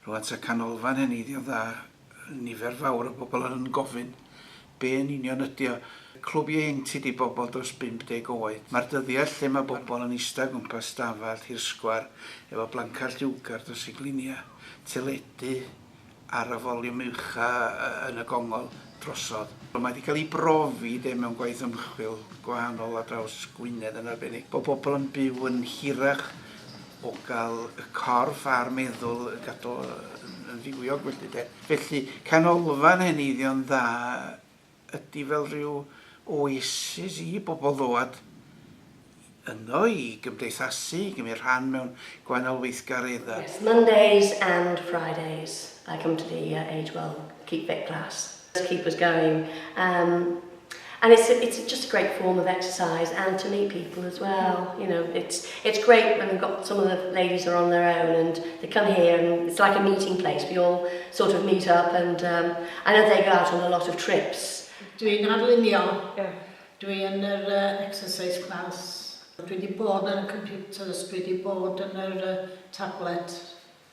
Roedd at y canolfan heneiddio dda, nifer fawr o bobl yn gofyn, be yn union ydy o? Clwb ieuenctid i bobl dros 50 oed. Mae'r dyddiau lle mae bobl yn eistedd o gwmpas stafell hirsgwar efo blancad lliwgar dros eu gliniau, teledu, ar y foliwm ucha yn y gongol drosodd. Mae wedi cael ei brofi de mewn gwaith ymchwil gwahanol ar draws Gwynedd yn arbennig bod pobl yn byw yn hirach o gael y corff a'r meddwl yn gadw yn fywiog felly de. Felly canolfan heneiddio'n dda ydy fel rhyw oasis i bobl ddod yno i gymdeithasu, i gymryd rhan mewn gwahanol weithgareddau. Yes, Mondays and Fridays I come to the uh, Age Well Keep Fit class to keep us going. Um, and it's, a, it's just a great form of exercise and to meet people as well. You know, it's, It's great when we've got some of the ladies are on their own and they come here and it's like a meeting place, we all sort of meet up and um, I know they go out on a lot of trips. Dwi'n arlunio, yeah. dwi yn yr uh, exercise class, dwi wedi bod ar y computers, dwi wedi bod yn yr uh, tablet,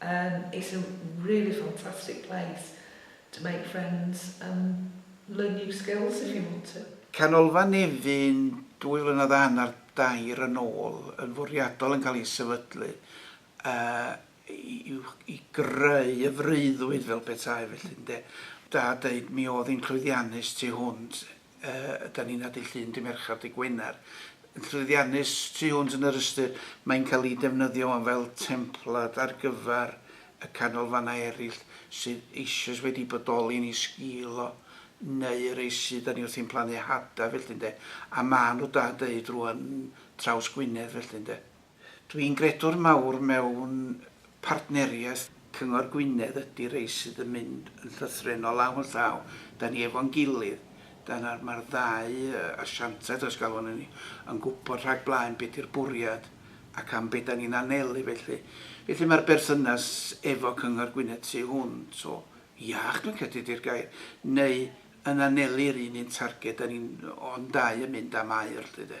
Um it's a really fantastic place to make friends and learn new skills if you want to. Canolfan Nefyn dwy flynedd a hanner dair yn ôl yn fwriadol yn cael ei sefydlu yy i greu y freuddwyd fel petai felly ynde? Da deud mi oedd hi'n llwyddiannus tu hwnt Ydan ni'n nadu llun Dy Mercher, Dy Gwener, yn llwyddiannus tu hwnt yn yr ystyr mae'n cael ei defnyddio am fel templad ar gyfer y canolfannau eraill sydd eisoes wedi bodoli yn ei sgil o, neu y rhai sydd 'da ni wrthi'n plannu hadau felly ynde, a maen nhw da deud rŵan traws Gwynedd felly ynde. Dwi'n gredwr mawr mewn partneriaeth. Cyngor Gwynedd ydi rei sydd yn mynd yn llythrennol law yn llaw. Da ni efo'n gilydd. Dyna, mae'r ddau asiantaeth, os galwn yn ni, yn gwybod rhag blaen be di'r bwriad ac am be da ni'n anelu felly. Felly mae'r berthynas efo Cyngor Gwynedd tu hwnt o iach, dwi'n credu di'r gair, neu yn anelu'r un un targed, dan ni'n, o'n dau yn mynd am aur 'lly de.